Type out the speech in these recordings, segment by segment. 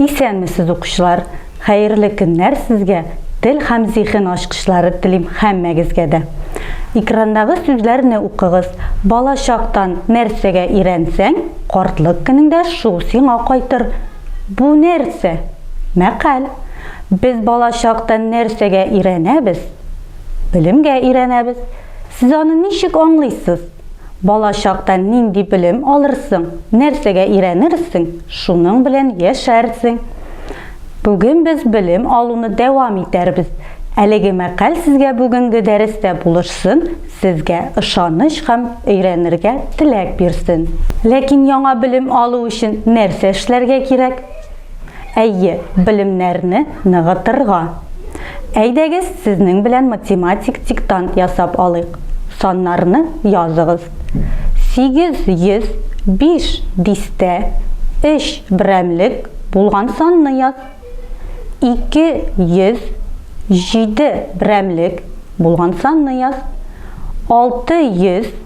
Исәнмесез укучылар! Хәерле көннәр сезгә! Тел һәм зиһен ачкычлары телим һәммәгезгә дә. Экрандагы сүзләрне укыгыз. Бала чактан нәрсәгә өйрәнсәң, картлык көнеңдә шул сиңа кайтыр. Бу нәрсә? Мәкаль. Без бала чактан нәрсәгә өйрәнәбез? Белемгә өйрәнәбез. Сез аны ничек аңлыйсыз? Бала чакта нинди белем алырсың, нәрсәгә өйрәнерсең, шуның белән яшәрсең. Бүген без белем алуны дәвам итәрбез. Әлеге мәкаль сезгә бүгенге дәрестә булышсын, сезгә ышаныч һәм өйрәнергә теләк бирсен. Ләкин яңа белем алу өчен нәрсә эшләргә кирәк? Әйе, белемнәрне ныгытырга. Әйдәгез, сезнең белән математик диктант ясап алыйк. Саннарны языгыз. 805 дистә, өч берәмлек булган санны яз. 207 берәмлек булган санны яз. 600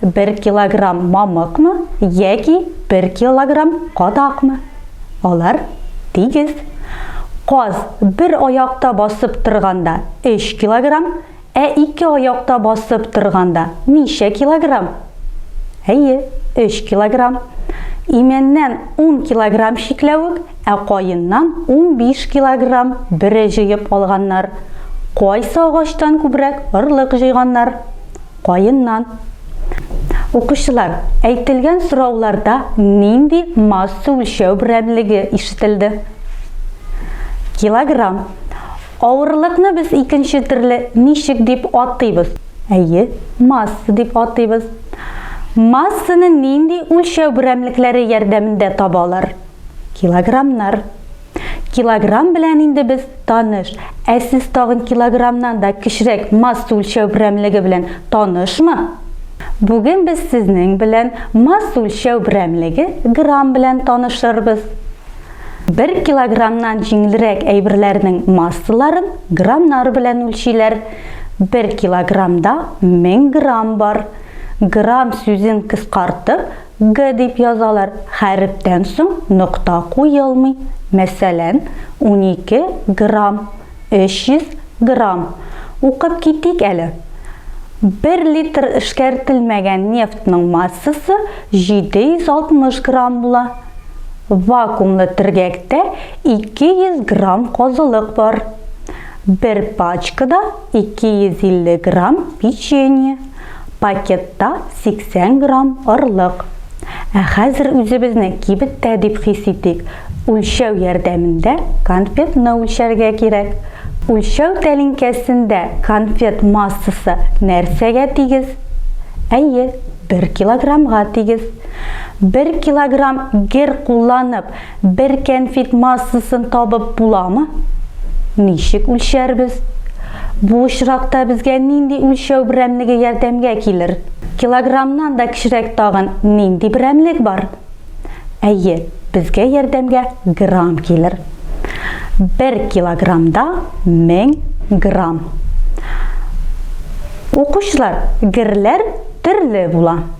Бер килограмм мамыкмы яки бер килограмм кадакмы? Алар тигез. Каз бер аякта басып торганда 3 килограмм, ә ике аякта басып торганда ничә килограмм? Әйе, 3 килограмм. Имәннән 10 килограмм чикләвек, ә каеннан 15 килограмм бөре җыеп алганнар. Кайсы агачтан күбрәк орлык җыйганнар? Каеннан. Укучылар, әйтелгән сорауларда нинди масса үлчәү берәмлеге ишетелде? Килограмм. Авырлыкны без икенче төрле ничек дип атыйбыз? Әйе, масса дип атыйбыз. Массаны нинди үлчәү берәмлекләре ярдәмендә табалар? Килограммнар. Килограмм белән инде без таныш. Ә сез тагын килограммнан да кечерәк масса үлчәү берәмлеге белән танышмы? Бүген без сезнең белән масса үлчәү берәмлеге грамм белән танышырбыз. 1 килограммнан җиңелрәк әйберләрнең массаларын граммнар белән үлчиләр. 1 килограммда 1000 грамм бар. Грамм сүзен кыскартып, Г дип язалар, хәрефтән соң нокта куелмый. Мәсәлән, унике грамм, өч йөз грамм. Укып китик әле. Бер литр эшкәртелмәгән нефтьның массасы 760 грамм була. Вакуумлы төргәктә 200 грамм казылык бар. Бер пачкада 250 грамм печенье. Пакетта 80 грамм орлык. Ә хәзер үзебезне кибеттә дип хис итик. Үлчәү ярдәмендә конфетны үлчәргә кирәк. Үлчәү тәлинкәсендә конфет массасы нәрсәгә тигез? Әйе, 1 килограммга тигез. 1 килограмм гер кулланып, Бер кәнфит массасын табып буламы? Ничек үлчәрбез? Бу очракта безгә нинди үлчәү берәмлеге ярдәмгә килер? Килограммнан да кечерәк тагын нинди берәмлек бар? Әйе, безгә ярдәмгә грамм килер. Бер килограммда 1000 грамм. Укучылар, герләр төрле була.